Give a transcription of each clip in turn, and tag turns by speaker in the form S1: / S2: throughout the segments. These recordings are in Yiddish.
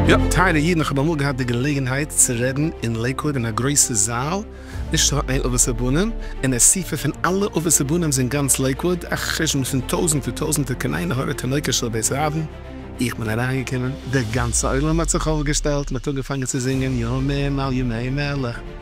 S1: יא, טייערע אידן, איך האב אמאל געהאט די געלעגנהייט צו רעדן אין לעיקוואוד אין א גרויסע זאל, נישט נאר איין אבות ובנים, אן אסיפה פון אלע אבות ובנים זון גאנץ לעיקוואוד, א חשבון פון טויזנטער טויזנטער קני נהורא תינוקות של בית רבן, איך בין אריינגעקומען, דער גאנצער עולם האט זיך אויפגעשטעלט, מען האט אנגעפאנגען צו זינגען ימים על ימי מלך.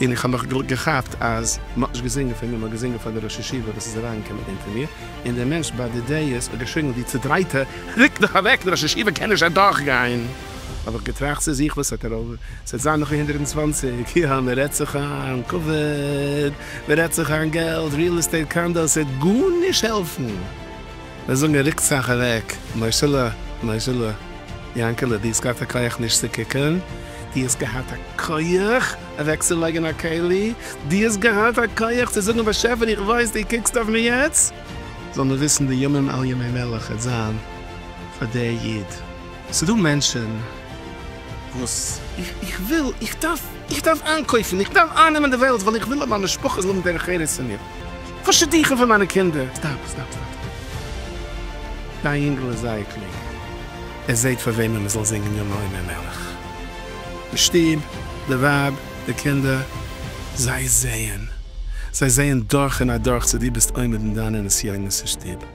S1: און איך האב מיך געכאפט אז מען האט נישט געזינגען פאר מיר, מען האט געזינגען פאר די ראש ישיבה וואס איז אריינגעקומען אונטער מיר, און דער מענטש ביי די דעיס האט געשריגן ווי צעדרייטע, ריקט דיך אוועק, דער ראש ישיבה קען נישט אדורכגיין! האב איך געטראכט צו זיך, וואס האט ער אויף, ס'וועט זיין נאך אין הונדערט און צוואַנציק יאר, מען רעדט זיך איין כבוד, מען רעדט זיך איין געלט, ריעל עסטעיט קאנדאס, ס'וועט גארנישט העלפן! מיר זאגן רוקט זיך אוועק, מוישעלע, מוישעלע, יאנקעלע, דו האסט געהאט א כח נישט צו קוקען, דו האסט געהאט א כח אוועק צו לייגען א כלי, דו האסט געהאט א כח צו זאגן באשעפער איך ווייס דו קוקסט אויף מיר יעצט, זאל מען וויסן די ימים על ימי מלך העט זיין פאר דער איד. ס'דא מענטשן וואס איך וויל, איך דארף, איך דארף איינקויפן, איך דארף אייננעמען די וועלט, ווייל איך וויל אז מיין משפחה זאל האבן דרך ארץ פון מיר, פאר שידוכים פון מיינע קינדער. סטאפ, סטאפ, סטאפ. דיין יונגל איז זייער קלוג. ער זעט פאר וועמען מען זאל זינגען יום העומר מלך. די שטוב, די ווייב, די קינדער, זיי זעען. זיי זעען דורך און אדורך צו דו ביסט עומד אין דיינע נסיונות אין שטוב.